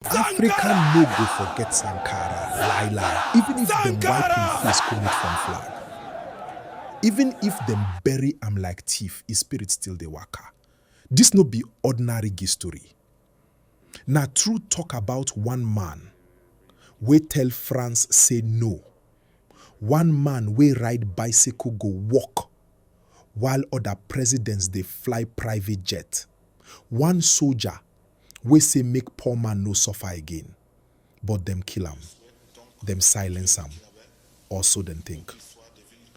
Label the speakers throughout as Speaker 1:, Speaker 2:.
Speaker 1: Africa no go forget Sankara, Laila, even if them wipe him face come out from flag. Even if them bury am like thief, his spirit still dey waka. This no be ordinary gist story. Na true talk about one man wey tell France say no, one man wey ride bicycle go work while other presidents dey fly private jet, one soldier wey say make poor man no suffer again, but dem kill am, dem silence am, or so dem think,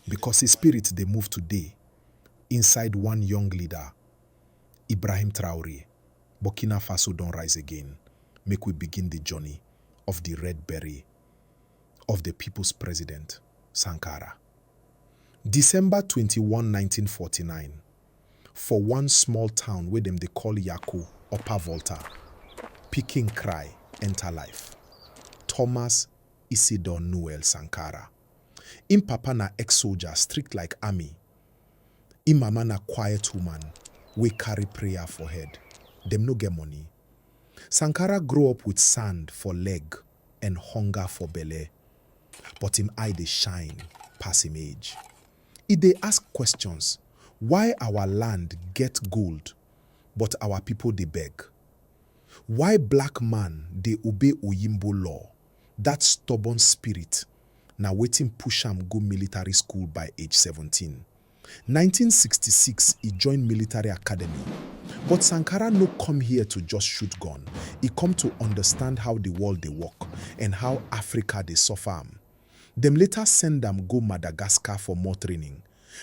Speaker 1: because his spirit dey move today inside one young leader, Ibrahim Traore, Burkina Faso don rise again, make we begin the journey of the red beret of the people's president, Sankara. December twenty one nineteen forty nine. for one small town wey dem dey call Yako, Upper Volta, pikin cry enter life. Thomas Isidor Noel Sankara. Im papa na ex-soldier strict like army, im mama na quiet woman wey carry prayer for head. Dem no get money. Sankara grow up with sand for leg and hunger for belle, but im eye dey shine pass im age. E dey ask questions, why our land get gold but our people dey beg? Why black man dey obey oyinbo law, that stubborn spirit na wetin push am go military school by age seventeen. Nineteen sixty six e join military academy, but Sankara no come here to just shoot gun, e come to understand how the world dey work and how Africa dey suffer am. Dem later send am go Madagascar for more training.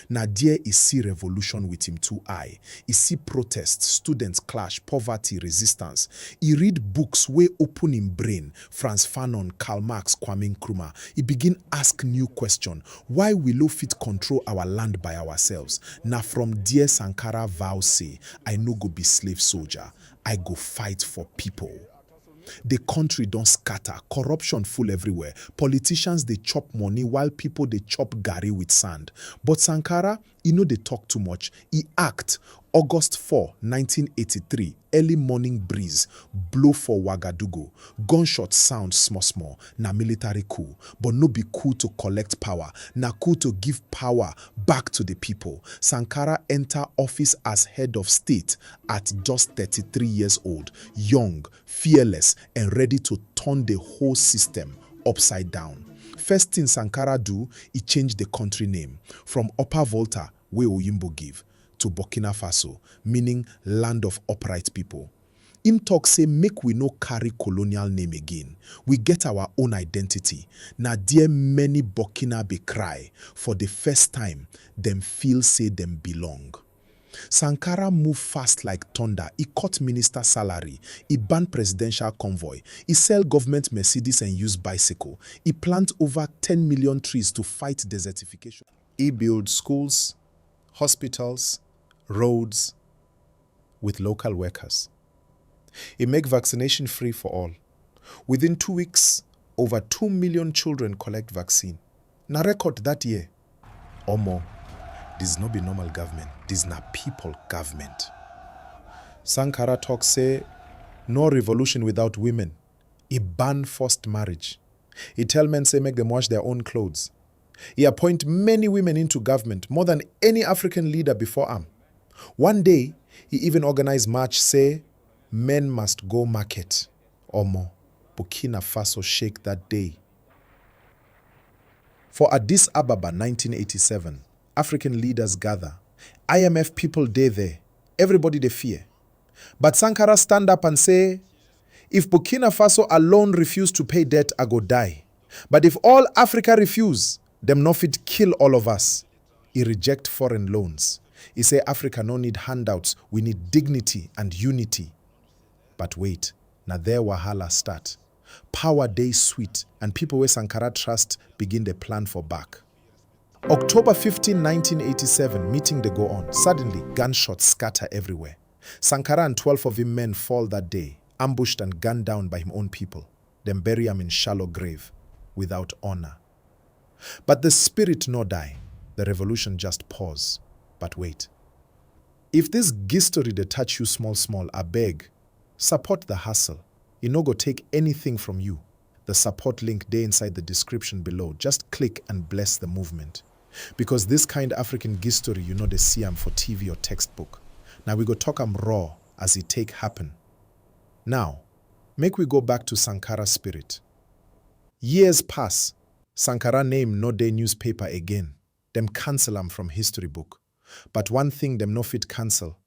Speaker 1: Na there e see revolution with im two eye. E see protest, students clash, poverty, resistance. E read books wey open im brain, Frantz Fanon, Karl Marx, Kwame Nkrumah. E begin ask new question, why we no fit control our land by ourselves? Na from there Sankara vow say, I no go be slave soldier, I go fight for people. The country don scatter, corruption full everywhere, politicians dey chop money while people dey chop garri with sand. But Sankara, e no dey talk too much, e act, August four, nineteen eighty three, Early morning breeze blow for Ouagadougou, gunshot sound small small, na military coup, but no be coup to collect power, na coup to give power back to the people. Sankara enter office as head of state At just thirty three years old, young, fearless and ready to turn the whole system upside down. First thing Sankara do, e change the country name from Upper Volta wey Oyinbo give to Burkina Faso, meaning land of upright people. Im talk say make we no carry colonial name again, we get our own identity, na there many Burkinabe cry for the first time dem feel say dem belong. Sankara move fast like thunder, e cut minister salary, e ban presidential convoy, e sell government Mercedes and use bicycle, e plant over ten million trees to fight desertification, e build schools, hospitals, roads with local workers, e make vaccination free for all, within two weeks over two million children collect vaccine, na record that year. Omo dis no be normal government dis na people government. Sankara talk say no revolution without women, e ban forced marriage, e tell men say make dem wash their own clothes, e appoint many women into government more than any African leader before am, one day e even organize march say men must go market, omo Burkina Faso shake that day. For Addis Ababa nineteen eighty seven, African leaders gather, IMF people dey there, everybody dey fear. But Sankara stand up and say, If Burkina Faso alone refuse to pay debt, I go die. But if all Africa refuse, dem no fit kill all of us. E reject foreign loans. E say Africa no need handouts, we need dignity and unity. But wait, na there wahala start. Power dey sweet and people wey Sankara trust begin dey plan for back. October fifteen, nineteen eighty seven, meeting dey go on, suddenly gunshots scatter everywhere. Sankara and twelve of im men fall that day, ambushed and gunned down by im own people. Dem bury am in shallow grave, without honour. But the spirit no die, the revolution just pause. But wait. If this ghistory dey touch you small small, abeg, support the hustle. E no go take anything from you, the support link dey inside the description below just click and bless the movement because this kind African gistory you no dey see am for TV or textbook na we go talk am raw as e take happen now make we go back to Sankara spirit years pass Sankara name no dey newspaper again dem cancel am from history book but one thing dem no fit cancel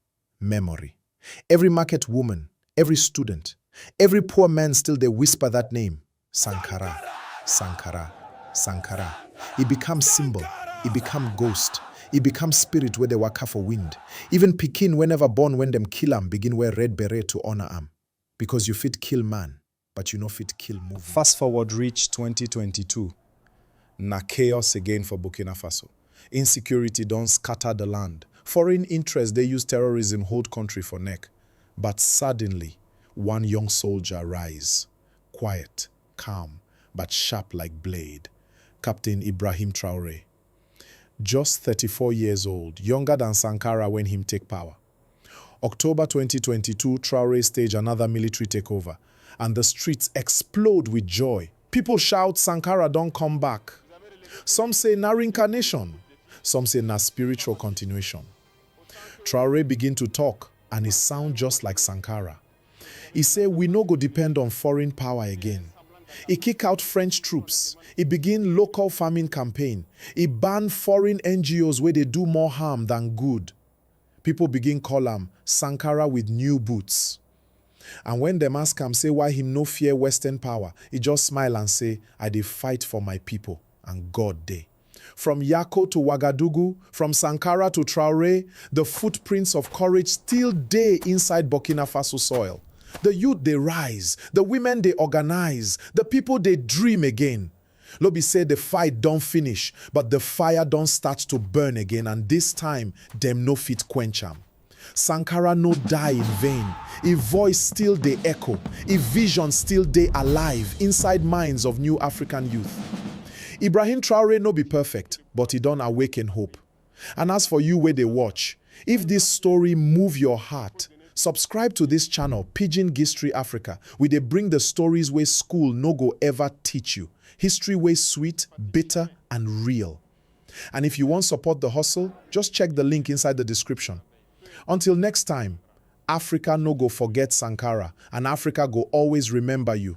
Speaker 1: Memory. Every market woman, every student, every poor man still dey whisper that name, Sankara, Sankara, Sankara. E become symbol, e become ghost, e become spirit wey dey waka for wind. Even pikin wey never born when dem kill am begin wear red beret to honour am. Because you fit kill man, but you no fit kill movement. Fast forward reach twenty twenty two, na chaos again for Burkina Faso. Insecurity don scatter the land, foreign interest dey use terrorism hold country for neck, but suddenly one young soldier rise, quiet, calm, but sharp like blade, Captain Ibrahim Traore. Just thirty four years old, younger than Sankara when him take power. October twenty twenty two, Traore stage another military takeover and the streets explode with joy. People shout Sankara don come back. Some say na reincarnation, some say na spiritual continuation. Traore begin to talk and e sound just like Sankara. E say we no go depend on foreign power again. E kick out French troops, e begin local farming campaign, e ban foreign NGOs wey dey do more harm than good. Pipo begin call am Sankara with new boots. And wen dem ask am say why him no fear western power, e just smile and say, I dey fight for my pipo and God dey. From Yako to Wagadugu, from Sankara to Traore, the footprints of courage still dey inside Burkina Faso soil. The youth dey rise, the women dey organise, the pipo dey dream again. No be say the fight don finish but the fire don start to burn again and this time dem no fit quench am. Sankara no die in vain, e voice still dey echo, e vision still dey alive inside minds of new African youth. Ibrahim Traore no be perfect but e don awaken hope. And as for you wey dey watch, if this story move your heart, subscribe to this channel Pidgin Gistory Africa, we dey bring the stories wey school no go ever teach you, history wey sweet, bitter and real. And if you wan support the hustle, just check the link inside the description. Until next time, Africa no go forget Sankara and Africa go always remember you.